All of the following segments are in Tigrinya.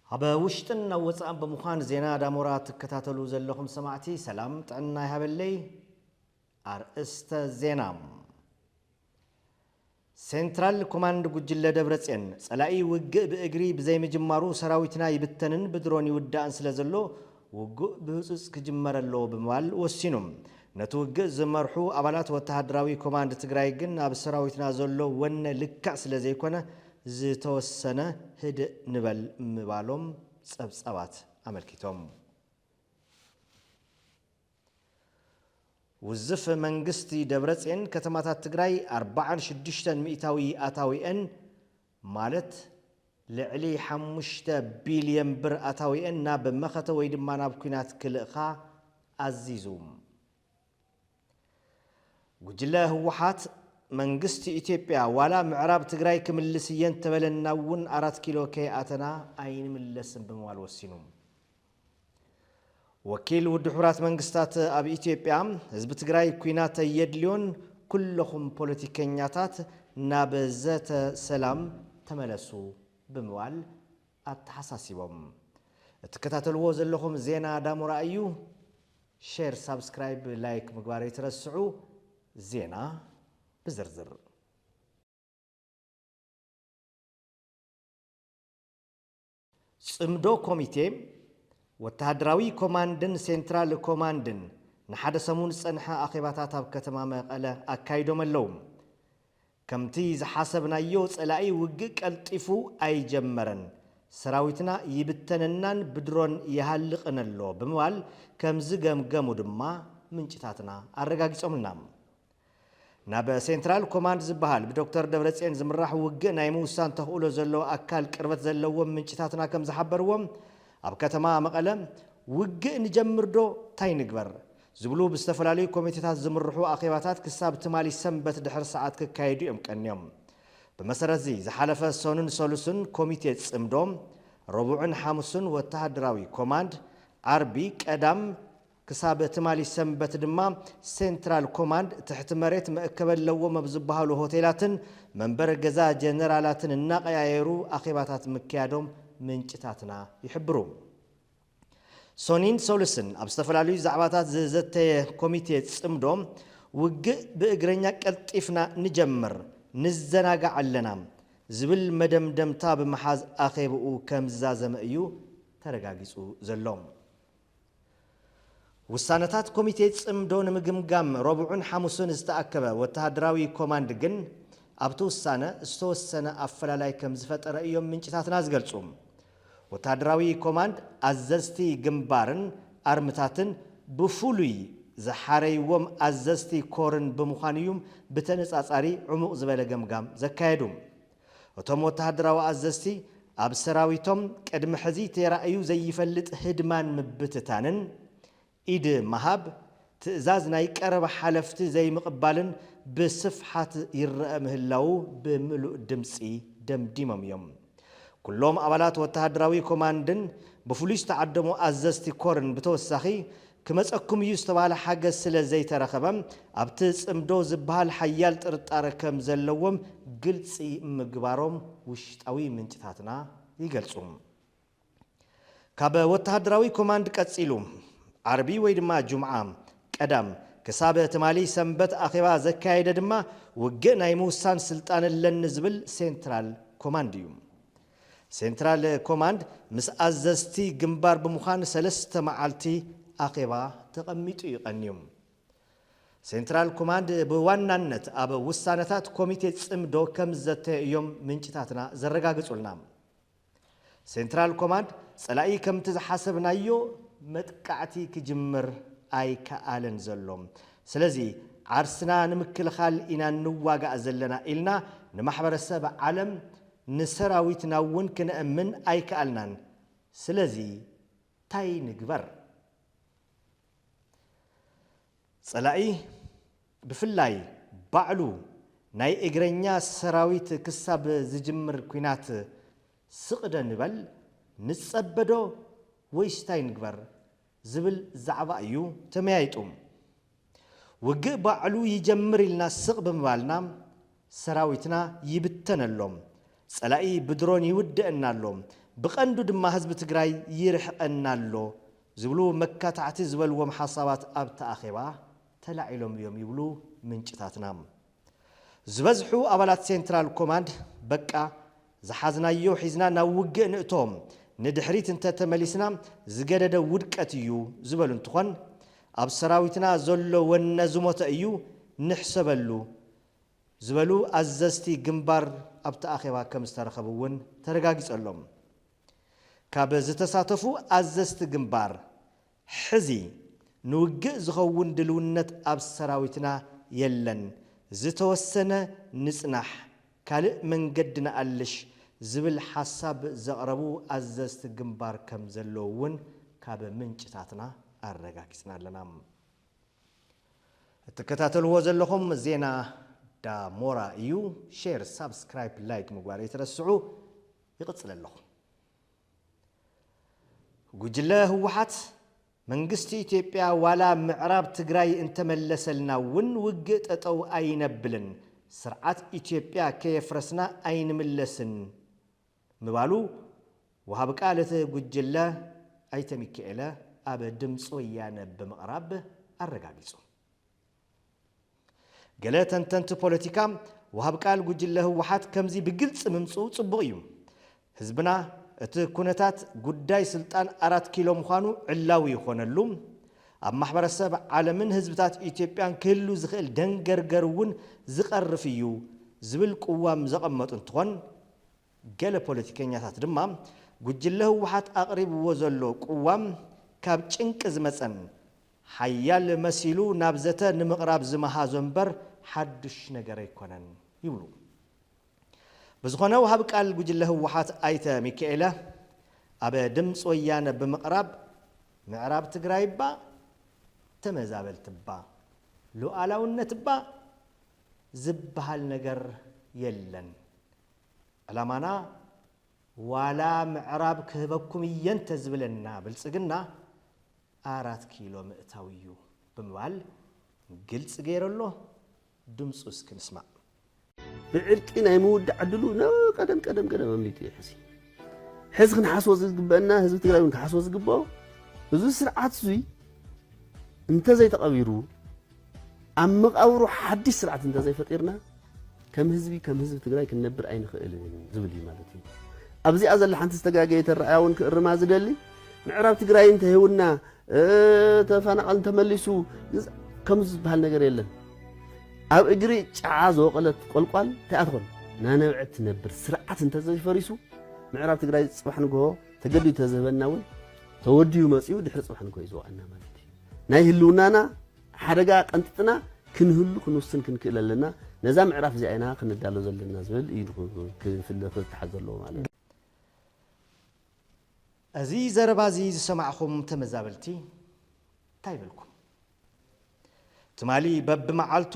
ኣብ ውሽጥን ኣብ ወጻእን ብምዃን ዜና ዳሞራ ትከታተሉ ዘለኹም ሰማዕቲ ሰላም ጥዕና ይሃበለይ። ኣርእስተ ዜና፣ ሴንትራል ኮማንድ ጉጅለ ደብረጽዮን፣ ጸላኢ ውግእ ብእግሪ ብዘይምጅማሩ ሰራዊትና ይብተንን ብድሮን ይውዳእን ስለዘሎ ውጉእ ብህጹጽ ክጅመር ኣለዎ ብምባል ወሲኑ። ነቲ ውግእ ዝመርሑ ኣባላት ወተሃደራዊ ኮማንድ ትግራይ ግን ኣብ ሰራዊትና ዘሎ ወነ ልክዕ ስለዘይኮነ ዝተወሰነ ህድእ ንበል ምባሎም ጸብጻባት ኣመልኪቶም። ውዝፍ መንግስቲ ደብረጼን ከተማታት ትግራይ ኣርባዓን ሽዱሽተን ሚእታዊ ኣታዊኤን ማለት ልዕሊ ሓሙሽተ ቢልየን ብር ኣታዊኤን ናብ መኸተ ወይ ድማ ናብ ኩናት ክልእኻ ኣዚዙ። ጉጅለ ህወሓት መንግስቲ ኢትዮጵያ ዋላ ምዕራብ ትግራይ ክምልስ እየ እንተበለና እውን ኣራት ኪሎ ከይኣተና ኣይንምለስን ብምባል ወሲኑ። ወኪል ውድብ ሕቡራት መንግስታት ኣብ ኢትዮጵያ ህዝቢ ትግራይ ኩናት ኣየድልዮን፣ ኩለኹም ፖለቲከኛታት ናብ ዘተ ሰላም ተመለሱ ብምባል ኣተሓሳሲቦም። እትከታተልዎ ዘለኹም ዜና ዳሞራ እዩ። ሼር ሳብስክራይብ ላይክ ምግባር ኣይትረስዑ ዜና ብዝርዝር። ፅምዶ ኮሚቴ ወተሃደራዊ ኮማንድን ሴንትራል ኮማንድን ንሓደ ሰሙን ዝፀንሐ ኣኼባታት ኣብ ከተማ መቐለ ኣካይዶም ኣለው። ከምቲ ዝሓሰብናዮ ፀላኢ ውግእ ቀልጢፉ ኣይጀመረን፣ ሰራዊትና ይብተነናን ብድሮን ይሃልቕን ኣሎ ብምባል ከምዝገምገሙ ድማ ምንጭታትና ኣረጋጊፆምልና። ናብ ሴንትራል ኮማንድ ዝበሃል ብዶክተር ደብረፅዮን ዝምራሕ ውግእ ናይ ምውሳን ተኽእሎ ዘለዎ ኣካል ቅርበት ዘለዎም ምንጭታትና ከምዝሓበርዎ ኣብ ከተማ መቐለ ውግእ ንጀምር ዶ ታይ ንግበር ዝብሉ ብዝተፈላለዩ ኮሚቴታት ዝምርሑ ኣኼባታት ክሳብ ትማሊ ሰንበት ድሕሪ ሰዓት ክካየዱ እዮም ቀንዮም። ብመሰረት'ዚ ዝሓለፈ ሰኑን ሰሉስን ኮሚቴ ጽምዶ፣ ረቡዕን ሓሙስን ወተሃደራዊ ኮማንድ፣ ዓርቢ፣ ቀዳም፣ ክሳብ ትማሊ ሰንበት ድማ ሴንትራል ኮማንድ ትሕቲ መሬት መእከበ ኣለዎም ኣብ ዝበሃሉ ሆቴላትን መንበሪ ገዛ ጀነራላትን እናቐያየሩ ኣኼባታት ምክያዶም ምንጭታትና ይሕብሩ። ሶኒን ሰሉስን ኣብ ዝተፈላለዩ ዛዕባታት ዘዘተየ ኮሚቴ ፅምዶ ውግእ ብእግረኛ ቀልጢፍና ንጀምር፣ ንዘናጋዕ ኣለና ዝብል መደምደምታ ብምሓዝ ኣኼብኡ ከምዝዛዘመ እዩ ተረጋጊፁ ዘሎ። ውሳነታት ኮሚቴ ፅምዶ ንምግምጋም ረቡዕን ሓሙስን ዝተኣከበ ወተሃደራዊ ኮማንድ ግን ኣብቲ ውሳነ ዝተወሰነ ኣፈላላይ ከምዝፈጠረ እዮም ምንጭታትና ዝገልፁ። ወተሃደራዊ ኮማንድ ኣዘዝቲ ግምባርን ኣርምታትን ብፍሉይ ዝሓረይዎም ኣዘዝቲ ኮርን ብምዃን እዩም ብተነፃፃሪ ዕሙቕ ዝበለ ገምጋም ዘካየዱ። እቶም ወተሃደራዊ ኣዘዝቲ ኣብ ሰራዊቶም ቅድሚ ሕዚ ተራእዩ ዘይፈልጥ ህድማን ምብትታንን፣ ኢድ ምሃብ፣ ትእዛዝ ናይ ቀረባ ሓለፍቲ ዘይምቕባልን ብስፍሓት ይረኣ ምህላዉ ብምሉእ ድምጺ ደምዲሞም እዮም። ኩሎም ኣባላት ወተሃደራዊ ኮማንድን ብፍሉይ ዝተዓደሙ ኣዘዝቲ ኮርን ብተወሳኺ ክመጸኩም እዩ ዝተባህለ ሓገዝ ስለ ዘይተረኸበ፣ ኣብቲ ጽምዶ ዝበሃል ሓያል ጥርጣረ ከም ዘለዎም ግልጺ ምግባሮም ውሽጣዊ ምንጭታትና ይገልጹ። ካብ ወተሃደራዊ ኮማንድ ቀጺሉ፣ ዓርቢ ወይ ድማ ጁምዓ፣ ቀዳም፣ ክሳብ ትማሊ ሰንበት ኣኼባ ዘካየደ ድማ ውግእ ናይ ምውሳን ስልጣን ኣለኒ ዝብል ሴንትራል ኮማንድ እዩ። ሴንትራል ኮማንድ ምስ ኣዘዝቲ ግንባር ብምዃን ሰለስተ መዓልቲ ኣኼባ ተቐሚጡ እዩ ቀንዩ። ሴንትራል ኮማንድ ብዋናነት ኣብ ውሳነታት ኮሚቴ ፅምዶ ከምዝዘተየ እዮም ምንጭታትና ዘረጋግፁልና። ሴንትራል ኮማንድ ፀላኢ ከምቲ ዝሓሰብናዮ መጥቃዕቲ ክጅምር ኣይከኣለን ዘሎ። ስለዚ ዓርስና ንምክልኻል ኢና ንዋጋእ ዘለና ኢልና ንማሕበረሰብ ዓለም ንሰራዊትና እውን ክነእምን ኣይከኣልናን ስለዚ ታይ ንግበር? ፀላኢ ብፍላይ ባዕሉ ናይ እግረኛ ሰራዊት ክሳብ ዝጅምር ኲናት ስቕ ዶ ንበል ንፀበ ዶ ወይስ ታይ ንግበር? ዝብል ዛዕባ እዩ ተመያይጡ። ውግእ ባዕሉ ይጀምር ኢልና ስቕ ብምባልና ሰራዊትና ይብተን ኣሎ፣ ፀላኢ ብድሮን ይውደእና ኣሎ፣ ብቐንዱ ድማ ህዝቢ ትግራይ ይርሕቐና ኣሎ ዝብሉ መካታዕቲ ዝበልዎም ሓሳባት ኣብቲ ኣኼባ ተላዒሎም እዮም ይብሉ ምንጭታትና። ዝበዝሑ ኣባላት ሴንትራል ኮማንድ በቃ ዝሓዝናዮ ሒዝና ናብ ውግእ ንእቶ፣ ንድሕሪት እንተ ተመሊስና ዝገደደ ውድቀት እዩ ዝበሉ እንትኾን፣ ኣብ ሰራዊትና ዘሎ ወነ ዝሞተ እዩ ንሕሰበሉ ዝበሉ ኣዘዝቲ ግንባር ኣብቲ ኣኼባ ከም ዝተረኸቡ እውን ተረጋጊፀሎም። ካብ ዝተሳተፉ ኣዘዝቲ ግንባር ሕዚ ንውግእ ዝኸውን ድልውነት ኣብ ሰራዊትና የለን፣ ዝተወሰነ ንጽናሕ፣ ካልእ መንገዲ ንኣልሽ ዝብል ሓሳብ ዘቕረቡ ኣዘዝቲ ግንባር ከም ዘለዉ እውን ካብ ምንጭታትና ኣረጋጊጽና ኣለና። እትከታተልዎ ዘለኹም ዜና ዳሞራ እዩ። ሼር፣ ሳብስክራይፕ፣ ላይክ ምግባር እይትረስዑ። ይቕጽል ኣለኹ። ጉጅለ ህወሓት፣ መንግስቲ ኢትዮጵያ ዋላ ምዕራብ ትግራይ እንተመለሰልና እውን ውግእ ጠጠው ኣይነብልን፣ ስርዓት ኢትዮጵያ ከየፍረስና ኣይንምለስን ምባሉ ወሃቢ ቃል እቲ ጉጅለ ኣይተ ሚኪኤለ ኣብ ድምፂ ወያነ ብምቕራብ ኣረጋጊፁ። ገለ ተንተንቲ ፖለቲካ፣ ወሃብ ቃል ጉጅለ ህወሓት ከምዚ ብግልፂ ምምፅኡ ፅቡቕ እዩ። ህዝብና እቲ ኩነታት ጉዳይ ስልጣን ኣራት ኪሎ ምዃኑ ዕላዊ ይኾነሉ፣ ኣብ ማሕበረሰብ ዓለምን ህዝብታት ኢትዮጵያን ክህሉ ዝኽእል ደንገርገር እውን ዝቐርፍ እዩ ዝብል ቅዋም ዘቐመጡ እንትኾን፣ ገለ ፖለቲከኛታት ድማ ጉጅለ ህወሓት ኣቕሪብዎ ዘሎ ቅዋም ካብ ጭንቂ ዝመፀን ሓያል መሲሉ ናብ ዘተ ንምቕራብ ዝመሃዞ እምበር ሓዱሽ ነገር ኣይኮነን ይብሉ። ብዝኾነ ወሃቢ ቃል ጉጅለ ህወሓት ኣይተ ሚኪኤለ ኣብ ድምፂ ወያነ ብምቕራብ ምዕራብ ትግራይ እባ ተመዛበልቲ እባ ሉኣላውነት እባ ዝብሃል ነገር የለን ዕላማና ዋላ ምዕራብ ክህበኩም እየ እንተዝብለና ብልፅግና ኣራት ኪሎ ምእታው እዩ ብምባል ግልፂ ገይሩ ኣሎ። ድምፁ እስኪ ንስማዕ። ብዕርቂ ናይ ምውዳእ ዕድሉ ናብ ቀደም ቀደም ቀደም ኣምሊጡ እዩ ሕዚ ሕዚ ክንሓስቦ ዝግበአና ህዝቢ ትግራይ እውን ክሓስቦ ዝግብኦ እዚ ስርዓት እዙይ እንተዘይተቐቢሩ ኣብ መቓብሩ ሓድሽ ስርዓት እንተዘይፈጢርና ከም ህዝቢ ከም ህዝቢ ትግራይ ክንነብር ኣይንኽእልን ዝብል እዩ ማለት እዩ ኣብዚኣ ዘላ ሓንቲ ዝተጋገየ ተረኣያ እውን ክእርማ ዝደሊ ምዕራብ ትግራይ እንተህውና ተፈናቐል እንተመሊሱ ከም ዝበሃል ነገር የለን ኣብ እግሪ ጨዓ ዝወቐለት ቆልቋል እንታይ ኣትኾን ናነብዐት ትነብር ስርዓት እንተዘይፈሪሱ ምዕራብ ትግራይ ፅባሕ ንግሆ ተገዲዱ ተዝህበና እውን ተወዲኡ መፅኡ ድሕሪ ፅባሕ ንግሆ እዩ ዝወቐና ማለት ናይ ህልውናና ሓደጋ ቀንጢጥና ክንህሉ ክንውስን ክንክእል ኣለና። ነዛ ምዕራፍ እዚኣ ኢና ክንዳሎ ዘለና ዝብል እዩ ክፍለ ክተሓዝ ዘለዎ ማለት እዩ። እዚ ዘረባ እዚ ዝሰማዕኹም ተመዛበልቲ እንታይ በልኩም? ትማሊ በብመዓልቱ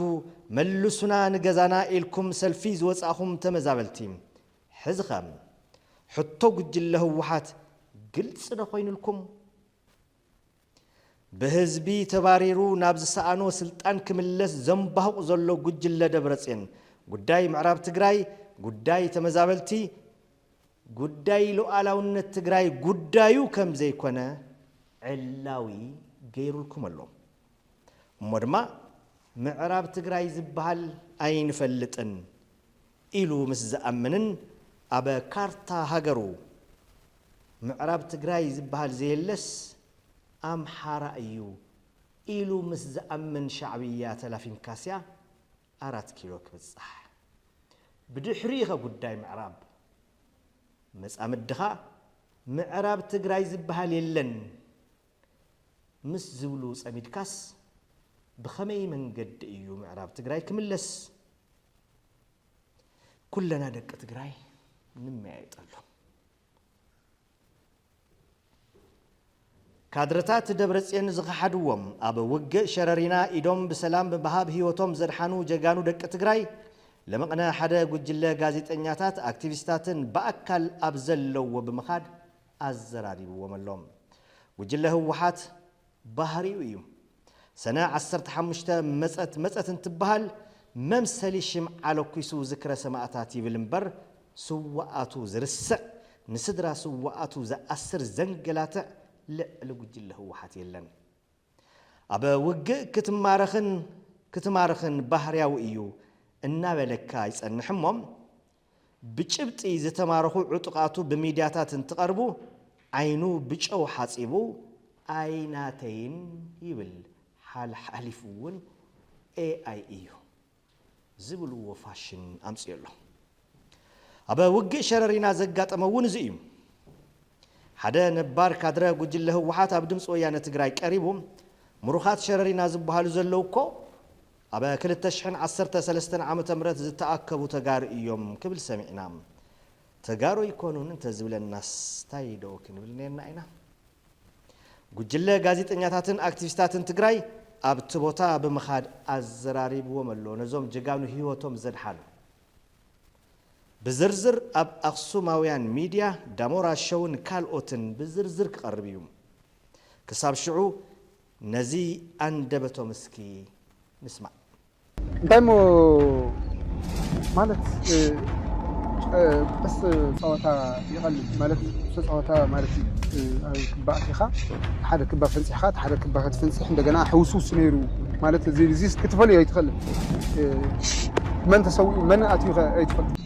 መልሱና ንገዛና ኢልኩም ሰልፊ ዝወጻእኹም ተመዛበልቲ ሕዚኸ ሕቶ ጉጅለ ህወሓት ግልጺ ዶ ኮይኑልኩም? ብህዝቢ ተባሪሩ ናብ ዝሰኣኖ ስልጣን ክምለስ ዘንባሁቕ ዘሎ ጉጅለ ደብረፅዮን ጉዳይ ምዕራብ ትግራይ፣ ጉዳይ ተመዛበልቲ፣ ጉዳይ ሉኣላውነት ትግራይ ጉዳዩ ከምዘይኮነ ዕላዊ ገይሩልኩም ኣሎ። እሞ ድማ ምዕራብ ትግራይ ዝብሃል ኣይንፈልጥን ኢሉ ምስ ዝኣምንን ኣብ ካርታ ሃገሩ፣ ምዕራብ ትግራይ ዝብሃል ዘየለስ ኣምሓራ እዩ ኢሉ ምስ ዝኣምን ሻዕብያ ተላፊንካስያ ኣራት ኪሎ ክብጻሕ። ብድሕሪኡኸ ጉዳይ ምዕራብ። መጻምድኻ ምዕራብ ትግራይ ዝብሃል የለን ምስ ዝብሉ ጸሚድካስ ብኸመይ መንገዲ እዩ ምዕራብ ትግራይ ክምለስ? ኩለና ደቂ ትግራይ ንመያየጠሉ። ካድረታት ደብረፅዮን ዝኸሓድዎም ኣብ ውግእ ሸረሪና ኢዶም ብሰላም ብምሃብ ህይወቶም ዘድሓኑ ጀጋኑ ደቂ ትግራይ ለመቕነ ሓደ ጉጅለ ጋዜጠኛታት ኣክቲቪስታትን ብኣካል ኣብ ዘለዎ ብምኻድ ኣዘራሪብዎም ኣሎ ጉጅለ ህወሓት ባህሪኡ እዩ። ሰነ ዓሰርተ ሓሙሽተ መጸት መጸት እንትበሃል መምሰሊ ሽም ዓለኲሱ ዝክረ ሰማእታት ይብል እምበር ስዉኣቱ ዝርስዕ፣ ንስድራ ስዉኣቱ ዝኣስር ዘንገላትዕ ልዕሊ ጉጅለ ህወሓት የለን። ኣብ ውግእ ክትማረኽን ክትማርኽን ባህሪያዊ እዩ እናበለካ ይጸንሕ እሞ፣ ብጭብጢ ዝተማረኹ ዕጡቓቱ ብሚድያታት እንትቐርቡ ዓይኑ ብጨው ሓፂቡ ኣይናተይን ይብል ሓልሓሊፉ እውን AI እዩ ዝብልዎ ፋሽን ኣምፂኡ ኣሎ። ኣብ ውግእ ሸረሪና ዘጋጠመ እውን እዚ እዩ። ሓደ ነባር ካድረ ጉጅለ ህወሓት ኣብ ድምፂ ወያነ ትግራይ ቀሪቡ ምሩኻት ሸረሪና ዝብሃሉ ዘለዉ እኮ፣ ኣብ ክልተ ሽሕን ዓሰርተ ሰለስተን ዓመተ ምህረት ዝተኣከቡ ተጋሩ እዮም ክብል ሰሚዕና። ተጋሩ ኣይኮኑን እንተዝብለናስ ታይ ዶ ክንብል ኔርና ኢና። ጉጅለ ጋዜጠኛታትን ኣክቲቪስታትን ትግራይ ኣብቲ ቦታ ብምኻድ ኣዘራሪብዎም ኣሎ ነዞም ጀጋኑ ሂወቶም ዘድሓኑ። ብዝርዝር ኣብ ኣኽሱማውያን ሚድያ፣ ዳሞራ ሸውን ካልኦትን ብዝርዝር ክቐርብ እዩ። ክሳብ ሽዑ ነዚ ኣንደበቶም እስኪ ንስማዕ። እንታይ እሞ ማለት ቁርሲ ጸወታ ይቀልል ማለት ቁርሲ ጸወታ ማለት ኣብ ክባ ኣቲካ ሓደ ክባ ፈንጺሕካ እቲ ሓደ ክባ ክትፍንጽሕ እንደገና ሕውስውስ ነይሩ ማለት እዚ ክትፈልዮ ኣይትክእልን መን ተሰዊኡ መን ኣትዩ ከ ኣይትፈልጥን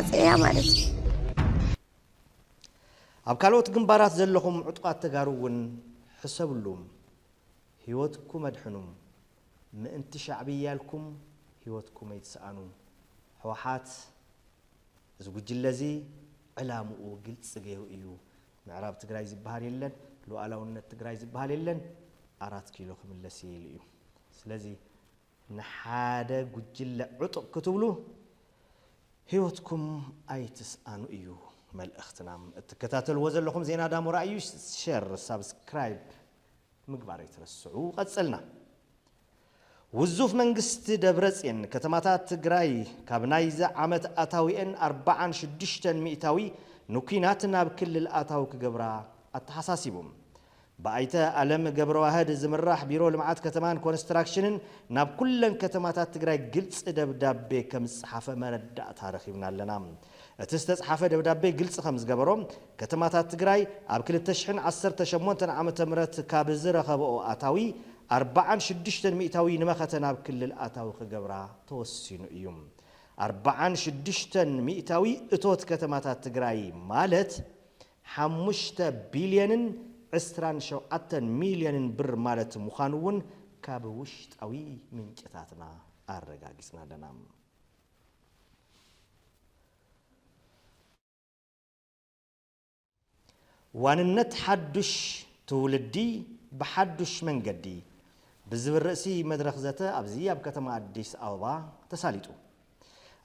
ኣፀያ ማለት እዩ። ኣብ ካልኦት ግንባራት ዘለኹም ዕጡቓት ተጋሩ እውን ሕሰብሉም ህይወትኩም ኣድሕኑም ምእንቲ ሻዕብያ ኢልኩም ህይወትኩም ኣይትስኣኑ ሕወሓት እዚ ጉጅለ እዚ ዕላምኡ ግልፂ ገይሩ እዩ ምዕራብ ትግራይ ዝብሃል የለን ሉኣላውነት ትግራይ ዝብሃል የለን ኣራት ኪሎ ክምለስ እየ ኢሉ እዩ ስለዚ ንሓደ ጉጅለ ዕጡቕ ክትብሉ ህይወትኩም ኣይትስኣኑ እዩ መልእኽትና። እትከታተልዎ ዘለኹም ዜና ዳሞራ እዩ። ሸር፣ ሳብስክራይብ ምግባር ኣይትረስዑ። ቀጽልና። ውዙፍ መንግስቲ ደብረጽየን ከተማታት ትግራይ ካብ ናይዚ ዓመት ኣታዊኤን ኣርብዓን ሽዱሽተን ሚእታዊ ንኲናት ናብ ክልል ኣታዊ ክገብራ ኣተሓሳሲቡ። ብኣይተ ኣለም ገብረዋህድ ዝምራሕ ቢሮ ልምዓት ከተማን ኮንስትራክሽንን ናብ ኩለን ከተማታት ትግራይ ግልፂ ደብዳቤ ከምዝፀሓፈ መረዳእታ ረኺብና ኣለና። እቲ ዝተፅሓፈ ደብዳቤ ግልፂ ከምዝገበሮ ከተማታት ትግራይ ኣብ ክልተ ሽሕን ዓሰርተ ሸሞንተን ዓመተ ምህረት ካብ ዝረኸበኦ ኣታዊ ኣርባዓን ሽዱሽተን ሚእታዊ ንመኸተ ናብ ክልል ኣታዊ ክገብራ ተወሲኑ እዩ። ኣርባዓን ሽዱሽተን ሚእታዊ እቶት ከተማታት ትግራይ ማለት ሓሙሽተ ቢልዮንን ዕስራን ሸውዓተን ሚልዮንን ብር ማለት ምዃኑ እውን ካብ ውሽጣዊ ምንጭታትና ኣረጋጊፅና ኣለና። ዋንነት ሓዱሽ ትውልዲ ብሓዱሽ መንገዲ ብዝብል ርእሲ መድረኽ ዘተ ኣብዚ ኣብ ከተማ ኣዲስ ኣበባ ተሳሊጡ።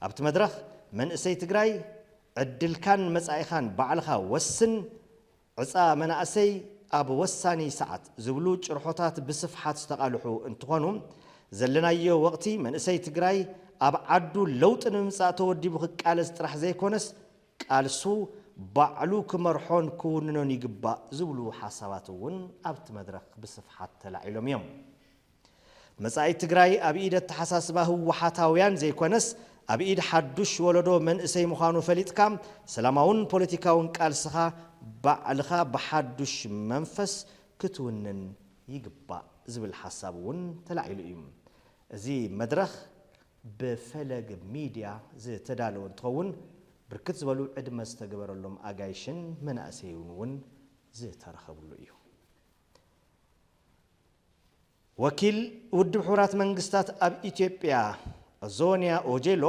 ኣብቲ መድረኽ መንእሰይ ትግራይ ዕድልካን መፃኢኻን ባዕልኻ ወስን፣ ዕፃ መናእሰይ ኣብ ወሳኒ ሰዓት ዝብሉ ጭርሖታት ብስፍሓት ዝተቓልሑ እንትኾኑ ዘለናዮ ወቕቲ መንእሰይ ትግራይ ኣብ ዓዱ ለውጢ ንምምፃእ ተወዲቡ ክቃለስ ጥራሕ ዘይኮነስ ቃልሱ ባዕሉ ክመርሖን ክውንኖን ይግባእ ዝብሉ ሓሳባት እውን ኣብቲ መድረኽ ብስፍሓት ተላዒሎም እዮም። መጻኢ ትግራይ ኣብ ኢድ ኣተሓሳስባ ህወሓታውያን ዘይኮነስ ኣብ ኢድ ሓዱሽ ወለዶ መንእሰይ ምዃኑ ፈሊጥካ ሰላማውን ፖለቲካውን ቃልስኻ ባዕልኻ ብሓዱሽ መንፈስ ክትውንን ይግባእ ዝብል ሓሳብ እውን ተላዒሉ እዩ። እዚ መድረኽ ብፈለግ ሚድያ ዝተዳለወ እንትኸውን ብርክት ዝበሉ ዕድመ ዝተገበረሎም ኣጋይሽን መናእሰይን እውን ዝተረኸብሉ እዩ። ወኪል ውድብ ሕቡራት መንግስታት ኣብ ኢትዮጵያ ዞንያ ኦጄሎ፣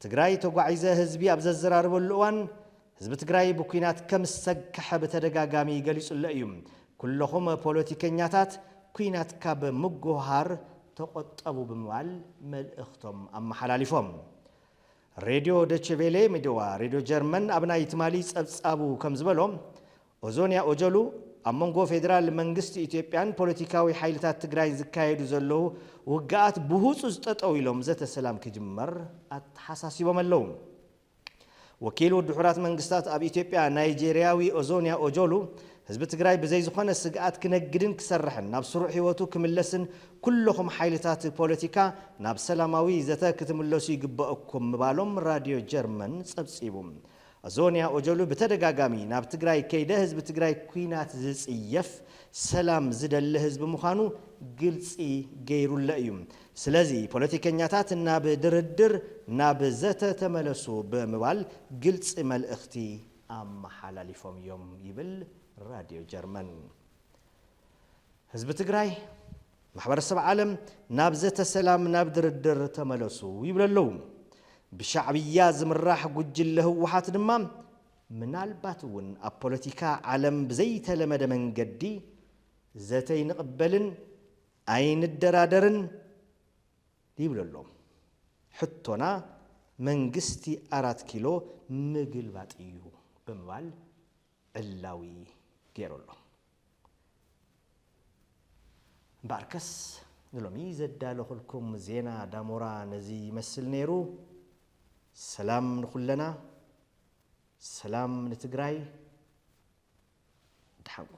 ትግራይ ተጓዒዘ ህዝቢ ኣብ ዘዘራርበሉ እዋን፣ ህዝቢ ትግራይ ብኲናት ከም ዝሰከሐ ብተደጋጋሚ ገሊጹለ እዩ። ኩለኹም ፖለቲከኛታት ኲናት ካብ ምጉህሃር ተቖጠቡ ብምባል መልእኽቶም ኣመሓላሊፎም። ሬድዮ ዶቼ ቬለ ሚድዋ ሬድዮ ጀርመን ኣብ ናይ ትማሊ ጸብጻቡ ከም ዝበሎ፣ ኦዞንያ ኦጀሉ፣ ኣብ መንጎ ፌደራል መንግስቲ ኢትዮጵያን ፖለቲካዊ ሓይልታት ትግራይን ዝካየዱ ዘለዉ ውግኣት ብሁጹጽ ጠጠው ኢሎም ዘተ ሰላም ክጅመር ኣተሓሳሲቦም ኣለዉ። ወኪል ውድሑራት መንግስታት ኣብ ኢትዮጵያ ናይጀርያዊ ኦዞንያ ኦጆሉ፣ ህዝቢ ትግራይ ብዘይ ዝኾነ ስግኣት ክነግድን ክሰርሕን ናብ ስሩዕ ህይወቱ ክምለስን ኩለኹም ሓይልታት ፖለቲካ ናብ ሰላማዊ ዘተ ክትምለሱ ይግበኣኩም ምባሎም ራዲዮ ጀርመን ጸብጺቡ። ኣዞንያ ኦጀሉ ብተደጋጋሚ ናብ ትግራይ ከይደ ህዝቢ ትግራይ ኩናት ዝፅየፍ ሰላም ዝደሊ ህዝቢ ምዃኑ ግልፂ ገይሩለ እዩ ስለዚ ፖለቲከኛታት ናብ ድርድር ናብ ዘተ ተመለሱ ብምባል ግልፂ መልእኽቲ ኣመሓላሊፎም እዮም ይብል ራዲዮ ጀርመን። ህዝቢ ትግራይ። ማሕበረሰብ ዓለም ናብ ዘተ ሰላም ናብ ድርድር ተመለሱ ይብሉ ኣለዉ። ብሻዕብያ ዝምራሕ ጉጅለ ህወሓት ድማ ምናልባት እውን ኣብ ፖለቲካ ዓለም ብዘይተለመደ መንገዲ ዘተ ኣይንቕበልን ኣይንደራደርን ይብሉ ኣሎ። ሕቶና መንግስቲ ኣራት ኪሎ ምግልባጥ እዩ ብምባል ዕላዊ ገይሩ ኣሎ። እምበኣርከስ ንሎሚ ዘዳለኹልኩም ዜና ዳሞራ ነዚ ይመስል ነይሩ። ሰላም ንኹለና፣ ሰላም ንትግራይ፣ ደሓን ኩኑ።